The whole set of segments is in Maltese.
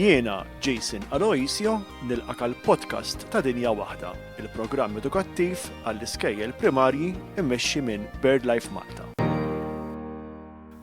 Jiena Jason Aloisio nilqak għal podcast ta' Dinja Waħda, il-programm edukattiv għall-iskejjel primarji immexxi minn BirdLife Malta.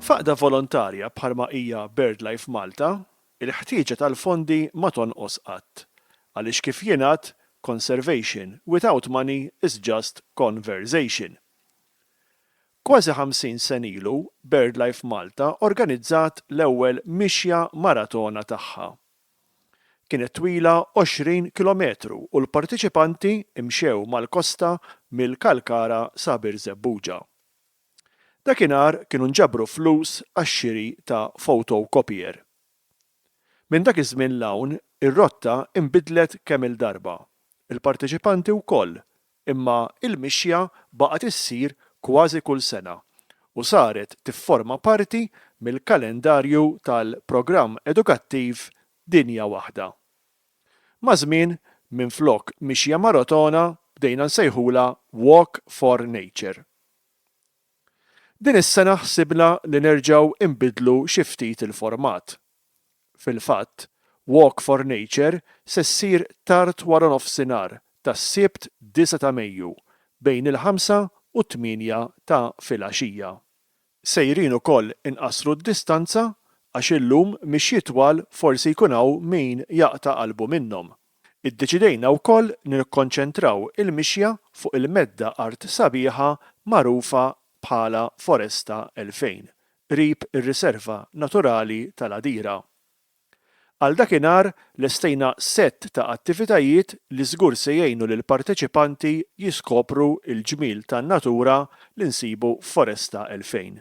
Faqda volontarja bħalma hija BirdLife Malta, il-ħtieġa tal-fondi ma tonqos qatt, għaliex kif jingħad conservation without money is just conversation. Kważi ħamsin sen ilu, BirdLife Malta organizzat l-ewwel mixja maratona tagħha. Kienet twila 20 kilometru u l-parteċipanti mxew mal-kosta mill-Kalkara sa Birżebbuġa. Dakinhar kienu nġabru flus għax-xiri ta' photocopier. Minn dak iż-żmien 'l hawn, ir-rotta nbidlet kemm-il darba. Il-parteċipanti wkoll Imma l-mixja baqgħet issir kważi kull sena u saret tifforma parti mill-kalendarju tal-Programm Edukattiv Dinja Waħda. Maż-żmien, minflok mixja marotona bdejna nsejħulha Walk for Nature. Din is-sena ħsibna li nerġgħu nbiddlu xi ftit il-format. Fil-fatt, Walk for Nature se ssir tard waranofsinhar tas-Sibt 9 ta' Mejju bejn il-ħamsa u t-tmienja ta' filgħaxija. Sejrin ukoll inqassru d-distanza għax illum mixjiet twal forsi jkun hawn min jaqta' qalbu minnhom. Iddeċidejna wkoll nikkonċentraw il-mixja fuq il-medda art sabiħa magħrufa bħala Foresta 2000, qrib ir-Riserva Naturali tal-Għadira. Għal dakinhar lestejna sett ta' attivitajiet li żgur se jgħinu lill-parteċipanti jiskopru l-ġmiel tan-natura li nsibu f'Foresta 2000.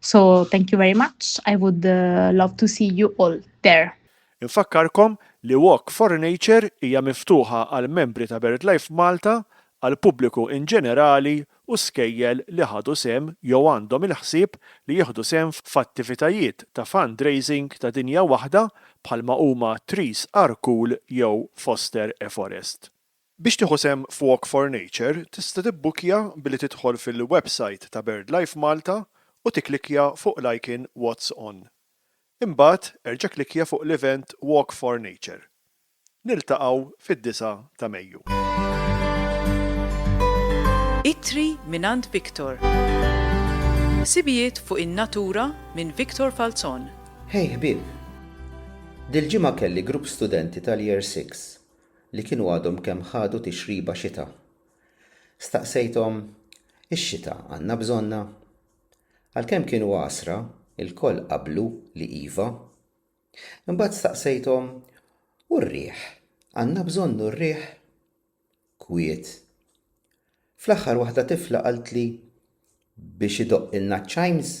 So thank you very much, I would uh, love to see you all there. Infakkarkom li Walk for Nature hija miftuħa għal membri ta' BirdLife Malta, għal pubbliku in ġenerali u skejjel li ħadu sehem jew għandhom il-ħsieb li jieħdu sehem f'attivitajiet ta' fundraising ta' dinja waħda bħalma huma Trees Are Cool jew Foster a Forest. Biex tieħu sehem f'Walk for Nature tista' tibbukkja billi tidħol fil-websajt ta' BirdLife Malta u tikklikkja fuq l-icon What's On. Imbagħad erġa' klikkja fuq l-event Walk for Nature. Niltaqgħu fid-disgħa ta' Mejju. Ittri mingħand Victor. Ħsibijiet fuq in-natura minn Victor Falzon. Hej ħbieb! Dil-ġimgħa kelli grupp studenti tal-Year Six li kienu għadhom kemm ħadu tixriba xita. Staqsejthom, Ix-xita għandna bżonnha? Għalkemm kienu għasra, ilkoll qablu li iva. Imbagħad staqsejthom, U r-riħ? Għandna bżonnu r-riħ? Kwiet. Fl-aħħar waħda tifla qaltli, Biex idoqqilna ċ-chimes?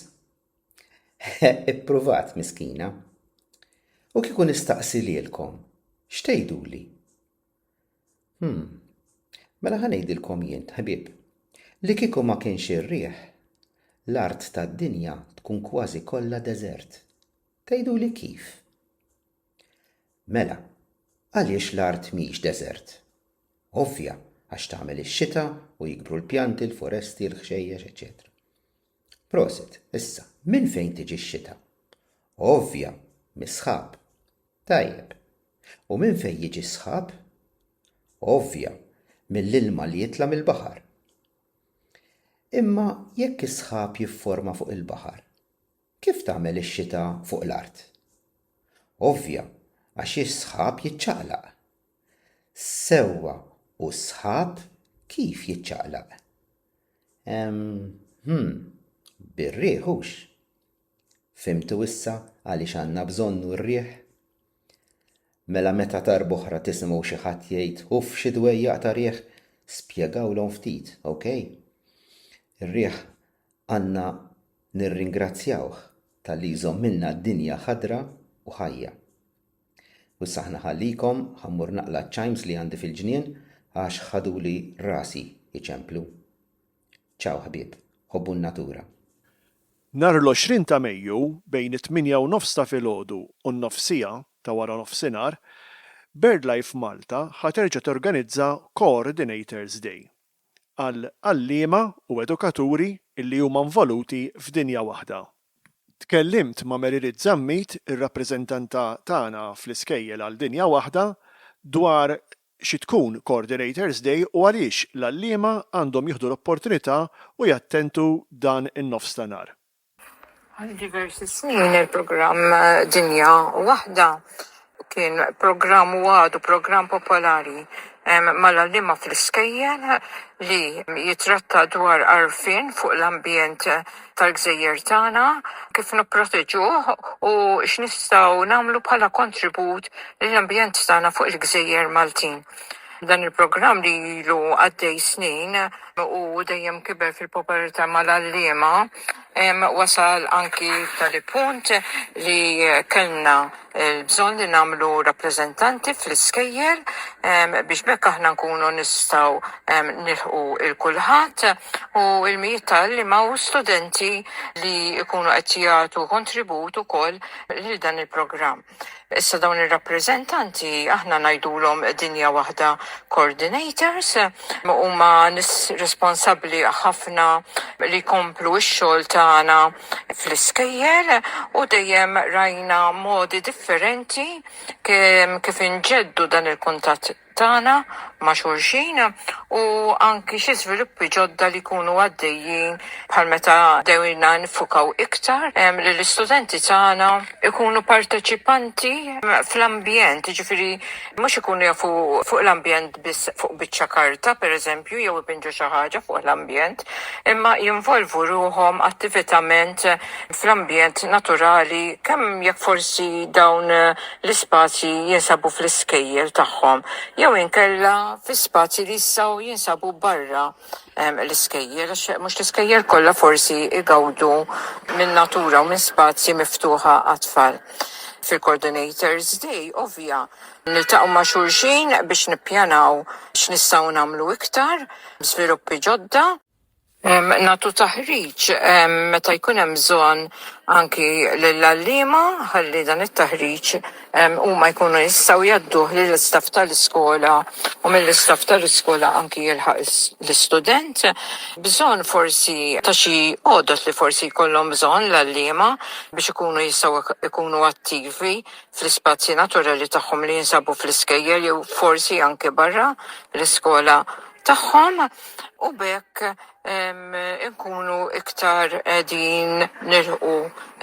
Ippruvat, miskina. U kieku nistaqsi lilkom, xtejduli? Hmm, mela ħanejdilkom jien, ħbib, li kieku ma kienx ir-riħ, l-art tad-dinja tkun kważi kollha deżert. Tgħiduli kif? Mela, għaliex l-art mhix deżert? Ovvja, għax tagħmel ix-xita u jikbru l-pjanti, l-foresti, l-ħxejjex, eċetera. Prosit, issa, minn fejn tiġi x-xita? Ovvja, mis-sħab. Tajjeb. U minn fejn jiġi s-sħab? Ovvja, mill-ilma li jitla' mill-baħar. Imma jekk is-sħab jifforma fuq il-baħar, kif tagħmel ix-xita fuq l-art? Ovvja, għax is-sħab jiċċaqlaq. Sewwa, u s-sħab kif jiċċaqlaq? Hmm, bir-riħ hux. Fimtu issa għaliex għandna bżonnu r-riħ? Mela meta darboħra tisimgħu xi ħadd jgħid uff xi dwejjaq ta' riħ, spjegawlhom ftit, ok? Ir-riħ għandna nirringrazzjawh tal-li jżommilna d-dinja ħadra u ħajja. U issa aħna ħallikom, ħammur naqla ċ-ċajms li għandi fil-ġnien għax ħaduli rasi iċemplu. Ċaw ħbieb, ħobbu n-natura. Nhar l-20 ta' Mejju bejn it-tmienja u nofs ta' filgħodu u n-nofsija ta' wara nofsinhar, BirdLife Malta ħa terġa' torganizza Coordinators Day, għal għalliema u edukaturi li huma nvoluti f'dinja waħda. Tkellimt ma' Merilit Zammit, ir-rappreżentanta tagħna fl-iskejjel għal dinja waħda, dwar xi tkun Coordinators Day u għaliex l-għalliema għandhom jieħdu l-opportunità u jattentu dan in-nofs ta' nhar. Għal diversi snin il-programm Dinja Waħda kien programm u għadu programm popolari mal-għalliema fl-iskejjel li jittratta dwar għarfien fuq l-ambjent tal-gżejjer tagħna, kif nipproteġuh u x'nistgħu nagħmlu bħala kontribut lill-ambjent tagħna fuq il-gżejjer Maltin. Dan il-programm li ilu għaddej snin u dejjem kiber fil-popolarità mal-għalliema wasal anki tali punt li kellna bżonn li nagħmlu rappreżentanti fl-iskejjel biex bekk aħna nkunu nistgħu nilħqu il kulħadd u l-mijiet ta' għalliema u studenti li jkunu qed jagħtu kontribut ukoll lil dan il-programm. Issa dawn ir-rappreżentanti aħna ngħidulhom dinja waħda coordinators huma nis responsabbli ħafna li jkomplu x-xogħol tagħna fl-iskejjel u dejjem rajna modi differenti kif inġeddu dan il-kuntatt tagħna ma' xulxin u anki xi żviluppi ġodda li jkunu għaddejjin bħal meta bdejna niffukaw iktar li l-istudenti tagħna jkunu parteċipanti fl-ambjent, jiġifieri mhux ikunu jafu fuq l-ambjent biss fuq biċċa karta pereżempju jew ibinġu xi ħaġa fuq l-ambjent, imma jinvolvu ruħhom attivitament fl-ambjent naturali kemm jekk forsi dawn l-ispazji jinsabu fl-iskejjel tagħhom jew inkella fi spazji li jistgħu jinsabu barra l-iskejjel, għax mhux l-iskejjel kollha forsi jgawdu minn natura u minn spazji miftuħa għat-tfal. Fil-Coordinators Day, ovvja, niltaqgħu ma' xulxin biex nippjanaw x'nistgħu nagħmlu iktar, żviluppi ġodda, Nagħtu taħriġ meta jkun hemm bżonn anki lill-għalliema ħalli dan it-taħriġ huma jkunu jistgħu jgħadduh lill-istaff tal-iskola u mill-istaff tal-iskola anki jilħaq l-istudent. Bżonn forsi ta' xi għodod li forsi jkollhom bżonn l-għalliema biex ikunu jistgħu jkunu attivi fl-ispazji naturali tagħhom li jinsabu fl-iskejjel jew forsi anki barra l-iskola. tagħhom u b'hekk inkunu iktar qegħdin nilħqu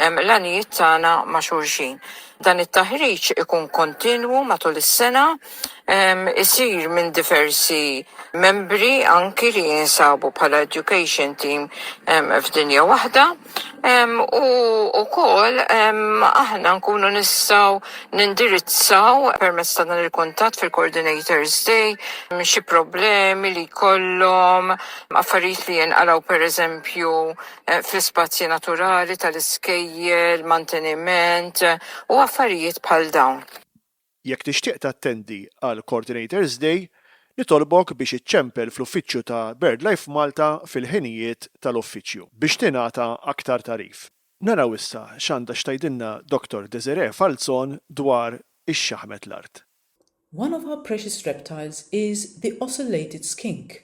l-għanijiet tagħna ma' xulxin. Dan it-taħriġ ikun kontinwu matul is-sena, isir minn diversi membri anki li jinsabu bħala education team f'dinja waħda. U wkoll aħna nkunu nistgħu nindirizzaw permezz ta' dan il-kuntatt fil-Coordinators Day xi problemi li jkollhom, affarijiet li jinqalgħu pereżempju fl-ispazji naturali tal-iskejjel, manteniment u affarijiet bħal dawn. Jekk tixtieq tattendi għal Coordinators Day, nitolbok biex iċċempel fl-uffiċċju ta' BirdLife Malta fil-ħinijiet tal-uffiċċju biex tingħata aktar tagħrif. Naraw issa x'għandha x'tgħidilna Doctor Desiree Falzon dwar ix-xaħmet l-art. One of our precious reptiles is the ocellated skink.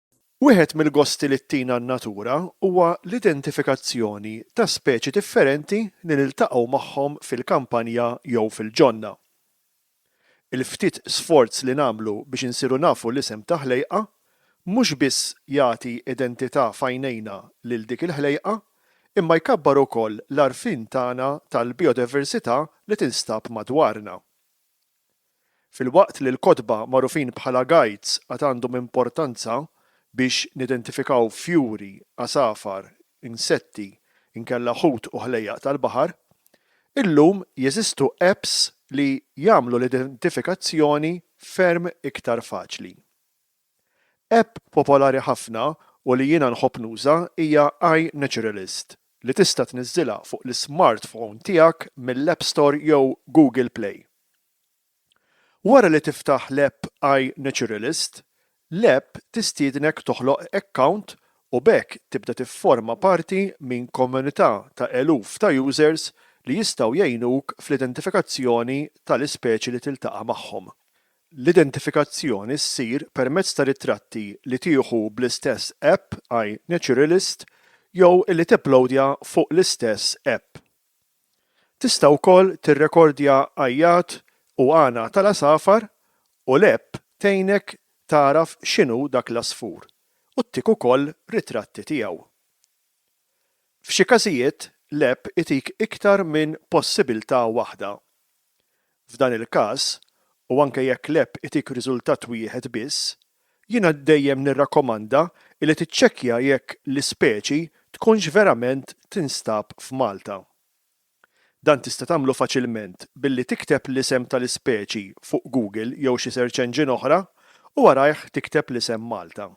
Wieħed mill-gosti li ttina n-natura huwa l-identifikazzjoni ta' speċi differenti li niltaqgħu magħhom fil-kampanja jew fil-ġonna. Il-ftit sforz li nagħmlu biex insiru nafu l-isem ta' ħlejqa mhux biss jagħti identità f'għajnejna lil dik il-ħlejqa imma jkabbar ukoll l-għarfien tagħna tal-bijodiversità li tinstab madwarna. Filwaqt li l-kotba magħrufin bħala guides għad għandhom importanza biex nidentifikaw fjuri, għasafar, insetti, inkella ħut u ħlejjaq tal-baħar, illum jeżistu apps li jagħmlu l-identifikazzjoni ferm iktar faċli. App popolari ħafna u li jiena nħobb nuża hija iNaturalist li tista' tniżżilha fuq l-ismartphone tiegħek mill-App Store jew Google Play. Wara li tiftaħ l-app iNaturalist, l-app tistiednek toħloq account u b'hekk tibda tifforma parti minn komunità ta' eluf ta' users li jistgħu jgħinuk fl-identifikazzjoni tal-ispeċi li tiltaqa' magħhom. L-identifikazzjoni ssir permezz ta' ritratti li tieħu bl-istess app għaj Naturalist jew li tipplowdja fuq l-istess app. Tista' wkoll tirrekordja għajjat u għana tal-għasafar u l-app tgħinek tagħraf x'inhu dak l-għasfur u ttik ukoll ritratti tiegħu. F'xi każijiet, l-app itik iktar minn possibiltà waħda. F'dan il-każ, u anke jekk l-app itik riżultat wieħed biss, jiena dejjem nirrakkomanda li tiċċekkja jekk l-ispeċi tkunx verament tinstab f'Malta. Dan tista' tagħmlu faċilment billi tikteb l-isem tal-ispeċi fuq Google jew xi search engine oħra u warajh tikteb l-isem Malta.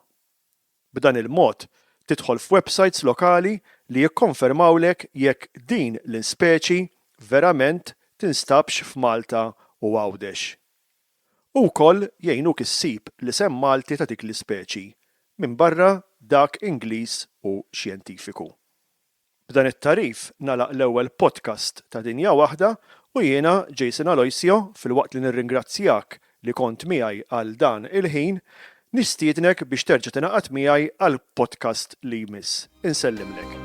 B'dan il-mod, tidħol f'websajts lokali li jikkonfermawlek jekk din l-ispeċi verament tinstabx f'Malta u Għawdex. U wkoll jgħinuk issib l-isem Malti ta' dik l-ispeċi, minbarra dak Ingliż u xjentifiku. B'dan it-tagħrif nagħlaq l-ewwel podcast ta' Dinja Waħda u jiena, Jason Aloisio, filwaqt li nirringrazzjak li kont miegħi għal dan il-ħin, nistiednek biex terġa' tingħaqad miegħi għal podcast li jmiss. Insellimlek.